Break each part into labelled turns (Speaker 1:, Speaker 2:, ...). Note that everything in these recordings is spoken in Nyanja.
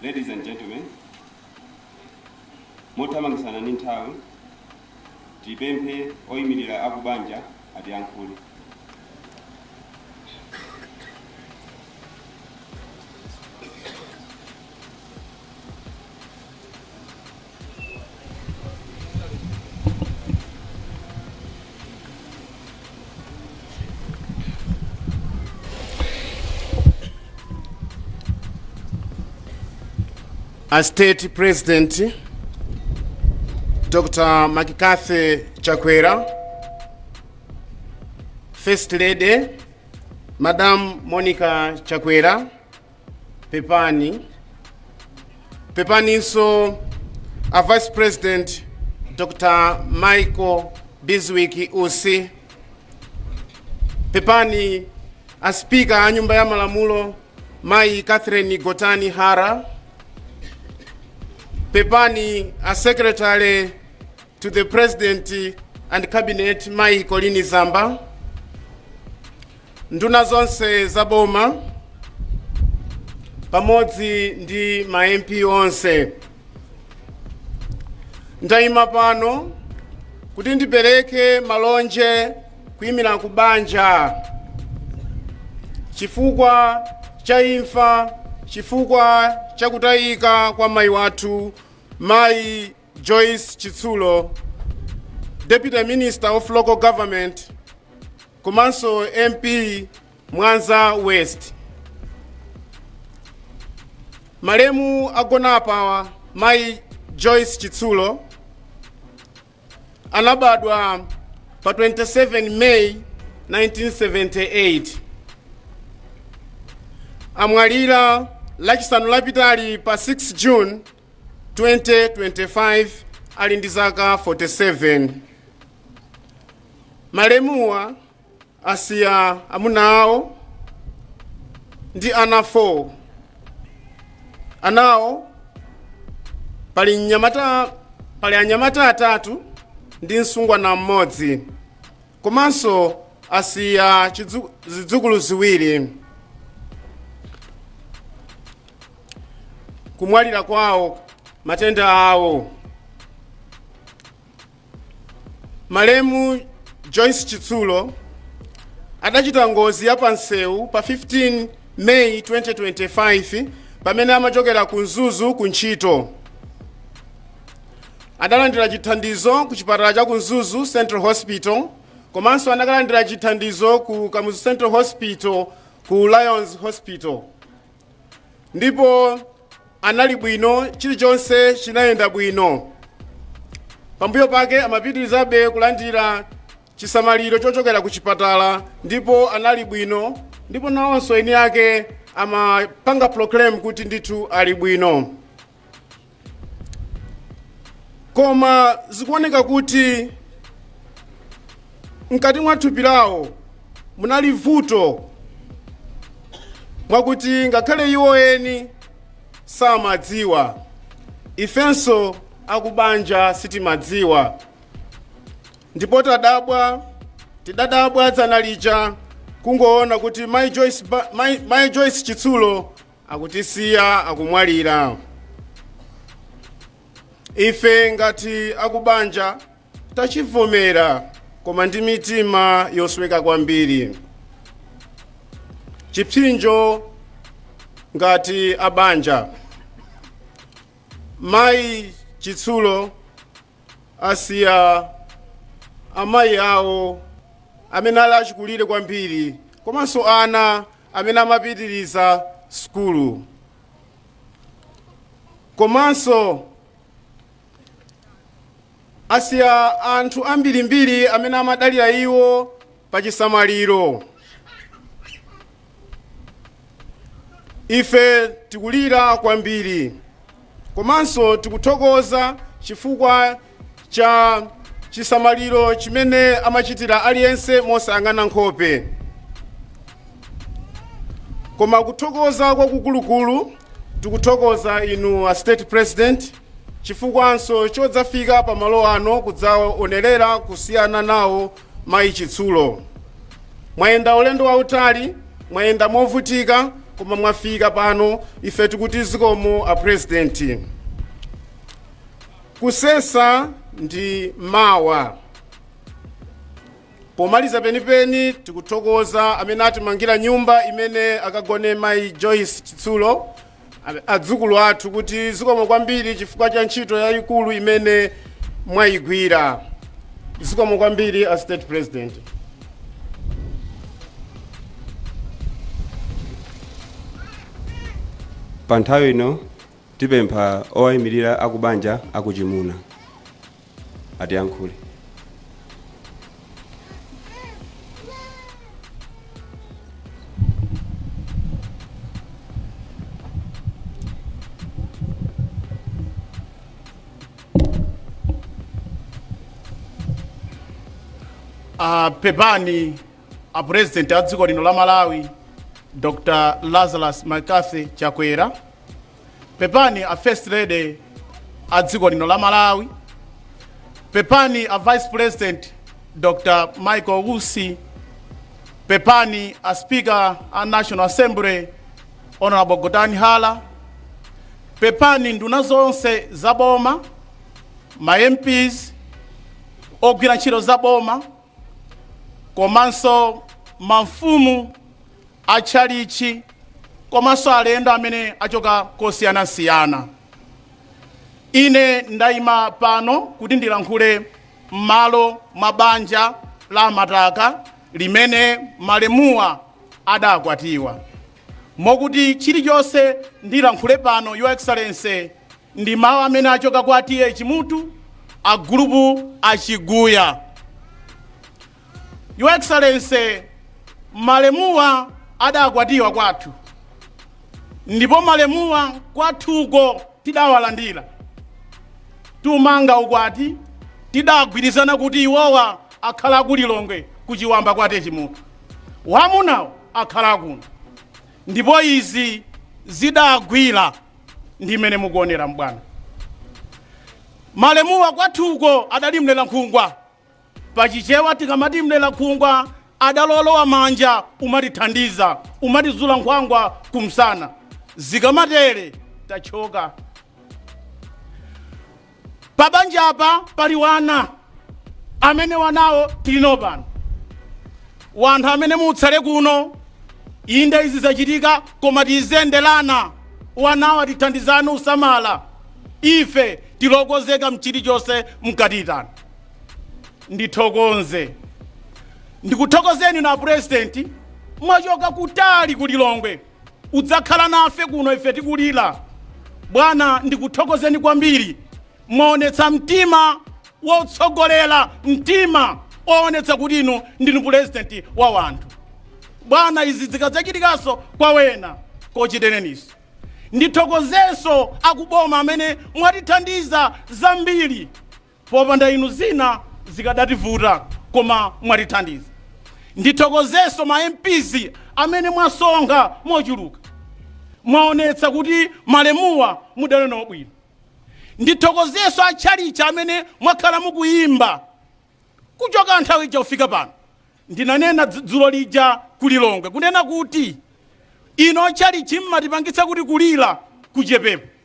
Speaker 1: Ladies and gentlemen, mothamangisana ndi nthawi, tipemphe oyimirira akubanja atiyankhule.
Speaker 2: a state president dr makikathe chakwera first lady madam monica chakwera pepani pepaninso a vice president dr michael bizwick usi pepani a spika a nyumba ya malamulo mayi catherine gotani hara pepani a secretary to the president and cabinet mayi colleen zamba Nduna zonse za boma pamodzi ndi ma MP onse, ndayima pano kuti ndipereke malonje kuyimira akubanja chifukwa cha imfa, chifukwa cha kutayika kwa mayi wathu Mayi Joyce Chitsulo, Deputy Minister of Local Government, komanso mp mwanza west malemu agonapa mayi joyce chitsulo anabadwa pa 27 may 1978 amwalira lachisanu lapitali pa 6 june 2025 ali ndi zaka 47. Malemuwa asiya amuna awo ndi ana 4. Anawo pali mnyamata pali anyamata atatu ndi msungwana mmodzi. komanso asiya chidzu- zidzukulu ziwiri kumwalira kwawo matenda awo malemu joyce chitsulo adachita ngozi ya pansewu pa 15 may 2025 pamene amachokera ku mzuzu ku ntchito Adalandira chithandizo ku chipatala cha ku Mzuzu Central Hospital komanso anakalandira chithandizo ku Kamuzu Central Hospital ku Lions Hospital ndipo anali bwino, chilichonse chinayenda bwino. Pambuyo pake amapitirizabe kulandira chisamaliro chochokera ku chipatala ndipo anali bwino, ndipo nawonso eni ake amapanga proclaim kuti ndithu ali bwino. koma zikuoneka kuti mkati mwa thupi lawo munali vuto mwakuti ngakhale iwo eni samadziwa ifenso akubanja sitimadziwa ndipo tadabwa tidadabwa dzana lija kungoona kuti mai joyce chitsulo akutisiya akumwalira ife ngati akubanja tachivomera koma ndi mitima yosweka kwambiri chipsinjo ngati abanja mayi chitsulo asiya amayi awo amene ali achikulire kwambiri komanso ana amene amapitiriza sukulu komanso asiya anthu ambirimbiri amene amadalira iwo pa chisamaliro ife tikulira kwambiri komanso tikuthokoza chifukwa cha chisamaliro chimene amachitira aliyense mosayang'ana nkhope koma kuthokoza kwakukulukulu tikuthokoza inu a state president chifukwanso chodzafika pa malo ano kudzaonerera kusiyana nawo mayi chitsulo mwayenda ulendo wautali mwayenda movutika koma mwafika pano ife tikuti zikomo a president Kusesa ndi mawa. Pomaliza penipeni tikuthokoza amene atimangira nyumba imene akagone mayi Joyce Chitsulo adzukulu athu kuti zikomo kwambiri chifukwa cha ntchito yayikulu imene mwayigwira. Zikomo kwambiri a State
Speaker 1: President. pa nthawi ino Tipempha owayimirira akubanja akuchimuna
Speaker 2: atiyankhule. pepani a president a dziko lino la malawi dr lazarus mccarthy chakwera pepani a first lady a dziko lino la malawi pepani a vice president dr michael usi pepani a speaker a national assembly honorable gotani hara pepani nduna zonse za boma ma mps ogwira ntchito za boma komanso mafumu a tchalitchi komanso alendo amene achoka kosiyanasiyana ine ndayima pano kuti ndilankhule m'malo mwa banja la amataka limene malemuwa adakwatiwa mokuti chilichonse ndilankhule pano, Your Excellency, ndi mawu amene achoka kwa TA Chimutu, a gulupu a Chiguya. Your Excellency, malemuwa adakwatiwa kwathu ndipo malemuwa kwathuko tidawalandira tumanga ukwati tidagwirizana kuti iwowa akhala ku Lilongwe ku Chiwamba kwa TA Chimutu. Wamunawo akhala kuno ndipo izi zidagwira ndi mmene mukuonera m'bwana. Malemuwa kwathuko adali mlerankhungwa. Pa Chichewa tikamati mlerankhungwa adali olowamanja umatithandiza, umatizula nkhwangwa kumsana. Zikamatere tatchoka. Pabanjapa pali wana amene wanawo tilino pano wanthu amene mutsale kuno inde izi zachitika koma tizenderana wanawo tithandizane usamala ife tili okonzeka mchilichonse mkatiitana ndithokoze ndikuthokozeni a purezidenti mwachoka kutali ku lilongwe Udzakhala nafe kuno ife tikulira. Bwana, ndikuthokozeni kwambiri. Mwaonetsa mtima wotsogolera, mtima woonetsa kuti inu ndinu pulezidenti wa wanthu. Bwana, izi zikadzachitikanso kwa wena kachitereninso. Ndithokozenso akuboma amene mwatithandiza zambiri. Popanda inu zina zikadativuta koma mwatithandiza. Ndithokozenso ma MPs amene mwasonkha mochuluka. Mwaonetsa kuti malemuwa mudali nawo bwino. Ndithokozenso a tchalitchi amene mwakhala mukuyimba kuchoka nthawi ija kufika pano. Ndinanena dzulo lija ku Lilongwe kunena kuti inu a tchalitchi mmatipangitsa kuti kulira kuchepepo.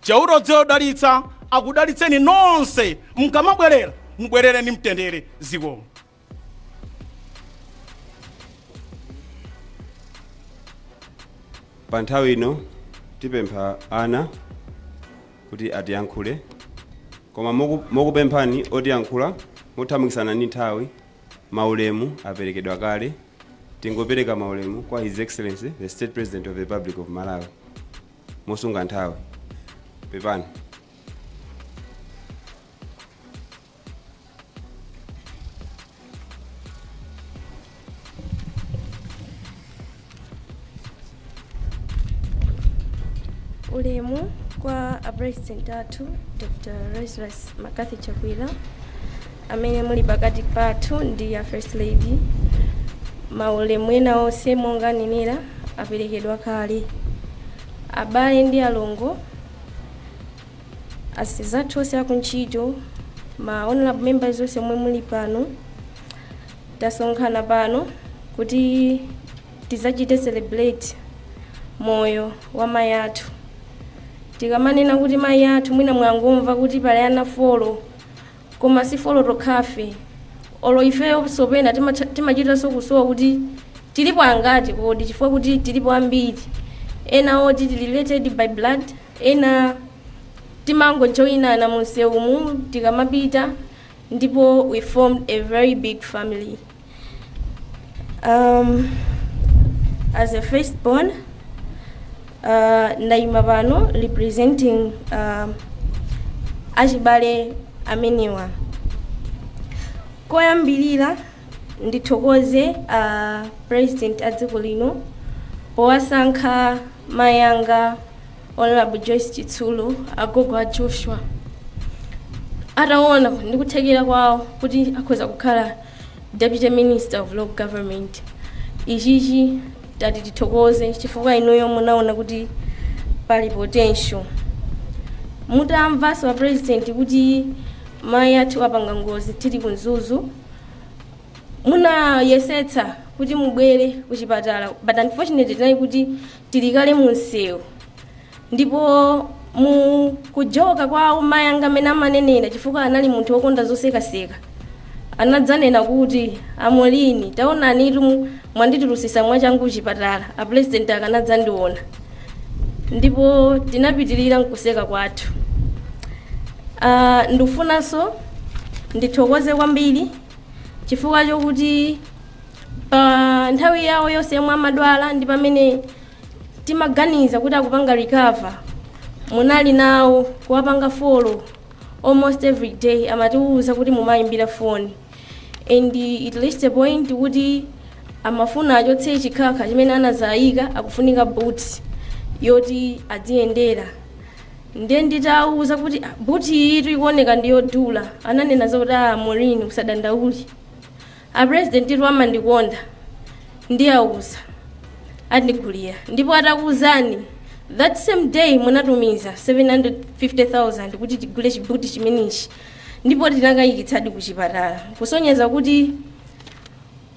Speaker 2: Chauta wodzidalitsa akudalitseni nonse mkamabwelera mubwelere ni mtendere
Speaker 1: zikomo. Pa nthawi ino tipempha ana kuti atiyankhule koma mokupemphani otiyankhula mothamangitsana ni nthawi maulemu aperekedwa kale tingopereka maulemu kwa his excellency the state president of the republic of malawi mosunga nthawi
Speaker 3: pepani ulemu kwa apresident athu dr lazarus mccarthy chakwera amene muli pakati pathu ndi a First Lady, maulemu ena onse monga anenera aperekedwa kale. Abale ndi alongo, azathu onse akuntchito, ma honorable members onse omwe muli pano, tasonkhana pano kuti tizachite celebrate moyo wa mayi athu. Tikamanena kuti mayi athu mwina mwangomva kuti pali ana four koma si four tokhafe olo ifeyonso pena timachitanso kusowa kuti tilipo angati kodi chifukwa kuti tilipo ambiri ena oti tili related by blood ena timangojoyinana mu msewumu tikamapita ndipo we formed a very big family as a firstborn ndayima pano representing achibale amenewa koyambirira ndithokoze a president a dziko lino powasankha mayanga honorable joyce chitsulo agogo a joshua ataona ndikuthekera kwawo kuti akhoza kukhala Deputy Minister of Local Government, ichichi tati tithokoze chifukwa inuyo munaona kuti pali potential. Mutamvanso a president kuti mayi athu apanga ngozi tili ku Mzuzu, munayesetsa kuti mubwere ku chipatala but unfortunately tinali kuti tili kale mu msewu ndipo mu kujoka kwawo mayi anga amene amanenera chifukwa anali munthu wokonda zosekaseka anadzanena kuti a Maureen taonanitu mwanditulutsitsa mwachangu kuchipatala apulezidenti akanadzandiona ndipo tinapitirira nkuseka kwathu Ah, ndikufunanso ndithokoze kwambiri chifukwa chokuti pa nthawi yawo yonse yomwe amadwala ndi pamene timaganiza kuti akupanga recover munali nawo kuwapanga follow almost every day amatiwuza kuti mumayimbira foni and it reached a point kuti amafuna achotse chikhakha chimene anazayika akufunika boot yoti adziyendera ndiye nditawauza kuti "Ah, buti iyitu ikuoneka ndi yodula ananena zoti a Maureen usadandaule A president tu amandikonda ndiauza andigulira ndipo atakuuzani that same day munatumiza 750,000 kuti tigule chibuti chimenechi ndipo tinakayikitsadi ku chipatala kusonyeza kuti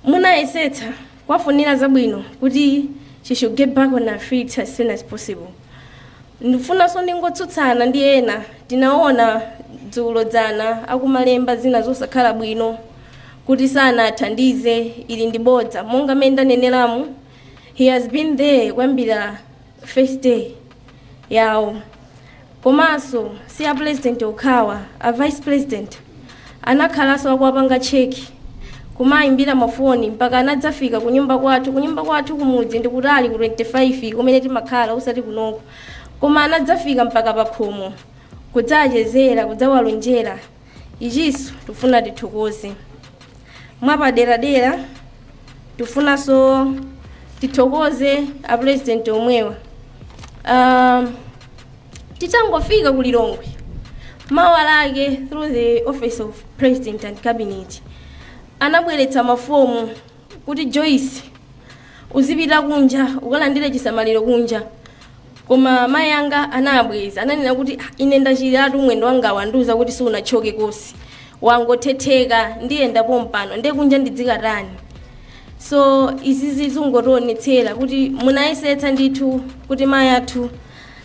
Speaker 3: munayesetsa kuwafunira zabwino kuti she should get back on her feet as soon as possible ndifunanso ndingotsutsana ndi ena tinaona dzulo dzana akumalemba zina zosakhala bwino kuti sanathandize ili ndi bodza monga mmene ndaneneramu he has been there kuyambira first day yawo komanso si a president okhawa a vice president Anakhalanso akuwapanga check, kumaimbira mafoni mpaka anadzafika kunyumba kwathu. Kunyumba kwathu kumudzi ndi kutali ku 25 kumene timakhala osati kunoko. Koma anadzafika mpaka pakhomo kudzawachezera, kudzawalonjera. Ichinso tikufuna tithokoze. Mwapaderadera tikufunanso tithokoze a president omwewa. Um, Titangofika ku Lilongwe mawa lake through the office of president and cabinet anabweretsa mafomu kuti Joyce uzipita kunja ukalandire chisamaliro kunja koma mayi anga anabweza ananena kuti "Ah, ine ndachiratu mwendo wanga wandiuza kuti siunatchoke kosi wangothetheka ndiyenda pompano ndiye kunja ndidzikatani so izizi zungotionetsera kuti munayesetsa ndithu kuti mayi athu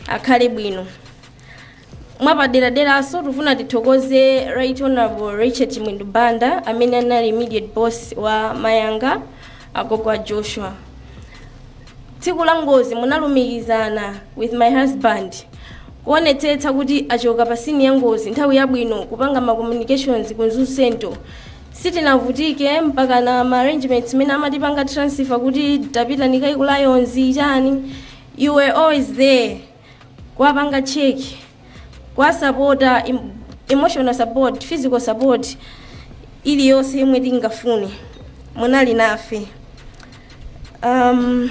Speaker 3: akhale bwino mwapaderaderanso tikufuna tithokoze right honorable richard chimwendo banda amene anali immediate boss wa mayanga agogo a joshua tsiku la ngozi munalumikizana with my husband kuonetsetsa kuti achoka pa scene ya ngozi nthawi yabwino kupanga ma communications ku mzuzu central sitinavutike mpakana ma arrangements mmene amatipanga transfer kuti tapita nikayi ku lions chani you were always there kuwapanga check kuwasapota em- emotional support physical support iliyonse yomwe tingafune munali nafe um,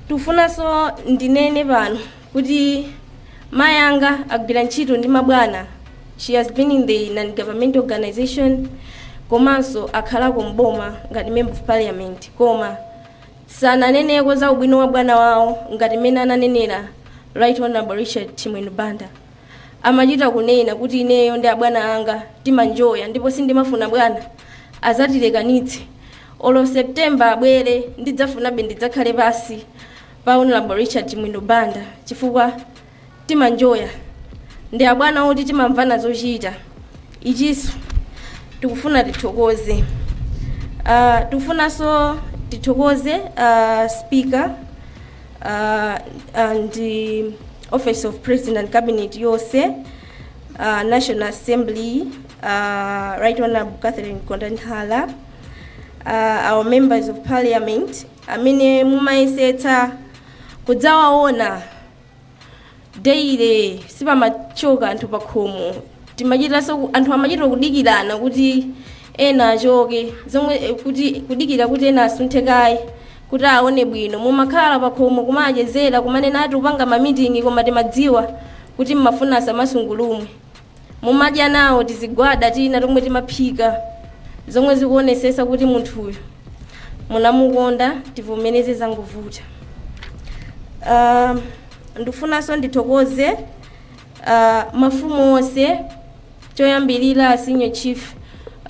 Speaker 3: tifunanso ndinene pano kuti mayanga agwira ntchito ndi mabwana she has been in the non-government organization komanso akhalako mboma ngati member of parliament koma Sananeneko za ubwino wa bwana wawo ngati mmene ananenera Right Honorable Richard Chimwendo Banda. Amachita kunena kuti ineyo ndi abwana anga timanjoya ndipo sindimafuna bwana azatilekanitse. Olo September abwere ndidzafunabe ndidzakhale pasi pa Honorable Richard Chimwendo Banda chifukwa timanjoya ndi abwana oti timamvana zochita ichiso tikufuna tithokoze uh, tikufunanso tithokoze uh, speaker uh, and the office of president and cabinet yonse uh, national assembly uh, right honorable catherine gotani hara uh, our members of parliament amene mumayesetsa kudzawaona daily sipamachoka anthu pakhomo timachitanso ku- anthu amachita kudikirana kuti ena achoke zomwe eh, kuti kudikira kuti ena asunthe kaye kuti aone bwino mumakhala pakhomo kumachezera kumanena ati kupanga mamitingi koma timadziwa kuti mmafuna asamasungulumwe Mumadya nawo tizigwada tina tomwe timaphika zomwe zikuonesesa kuti munthuyu munamukonda tivomereze zangovuta. Uh, ndikufunanso ndithokoze uh, mafumu onse choyambirira a senior chief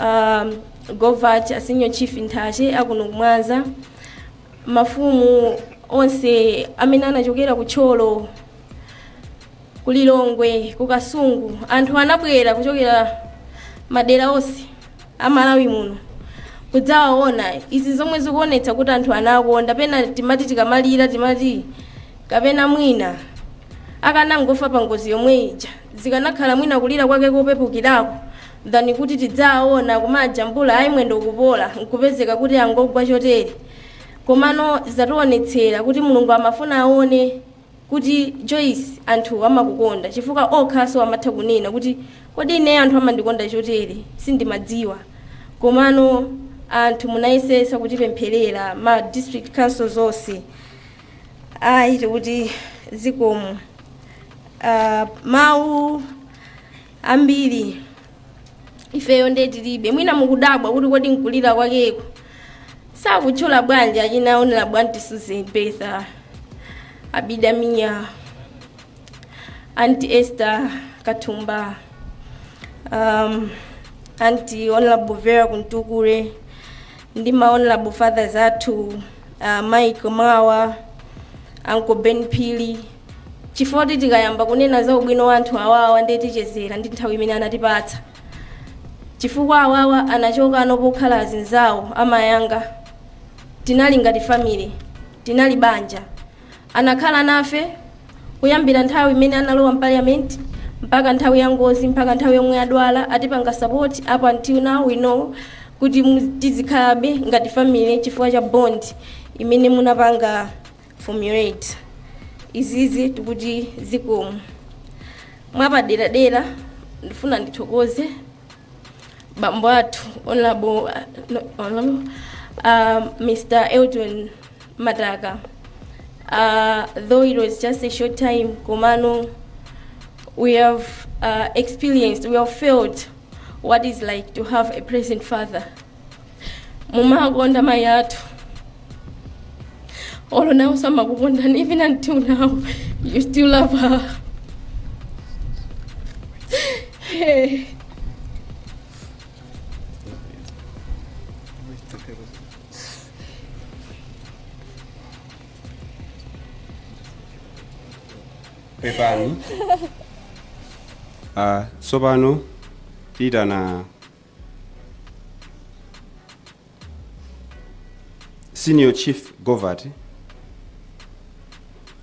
Speaker 3: um, govati a senior chief nthache akuno kumwanza mafumu onse amene anachokera ku thyolo Ku Lilongwe, ku Kasungu anthu anabwera kuchokera madera onse a Malawi muno kudzawaona. Izi zomwe zikuonetsa kuti anthu anakonda, pena timati tikamalira timati kapena mwina akanangofa pa ngozi yomwe ija zikanakhala mwina kulira kwake kopepukirako than kuti tidzawaona kumajambula ayi mwendo ukupola nkupezeka kuti angogwa chotere. Komano zationetsera kuti Mulungu amafuna aone kuti Joyce anthu amakukonda chifukwa okhanso amatha kunena kuti kodi ineyo anthu amandikonda chotere sindimadziwa komano anthu munayesesa kutipempherera ma district councils onse ayi tikuti zikomo uh, mawu ambiri ifeyo nde tilibe mwina mukudabwa kuti kodi nkulira kwakeko sakutchula bwanji achina honorable anti susan betha abida mia anti esther kathumba um, anti honorable vera kamtukule ndi ma honorable fathers athu uh, mike mawa uncle ben phiri Chifukwa kuti tikayamba kunena za ubwino wa anthu awawa ndiye tichezera ndi nthawi imene anatipatsa. Chifukwa awawa anachoka pongokhala azinzawo amayanga. Tinali ngati family, tinali banja. Anakhala nafe kuyambira nthawi imene analowa mparliament mpaka nthawi ya ngozi mpaka nthawi yomwe adwala atipanga support up until now we know kuti mu- tizikhalabe ngati family chifukwa cha bond imene munapanga formulate izizi tikuti zikomo mwapaderadera ndifuna ndithokoze bambo athu honorable uh, no, honorable, uh, mr elton mataka uh, though it was just a short time komano we have uh, experienced we have felt what is like to have a present father mumakonda mayi athu olo nawo samakukondani even until now you still love her hey.
Speaker 1: pepani ah, tsopano tiitana senior chief govert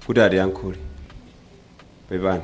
Speaker 1: kuti atiyankhule pepani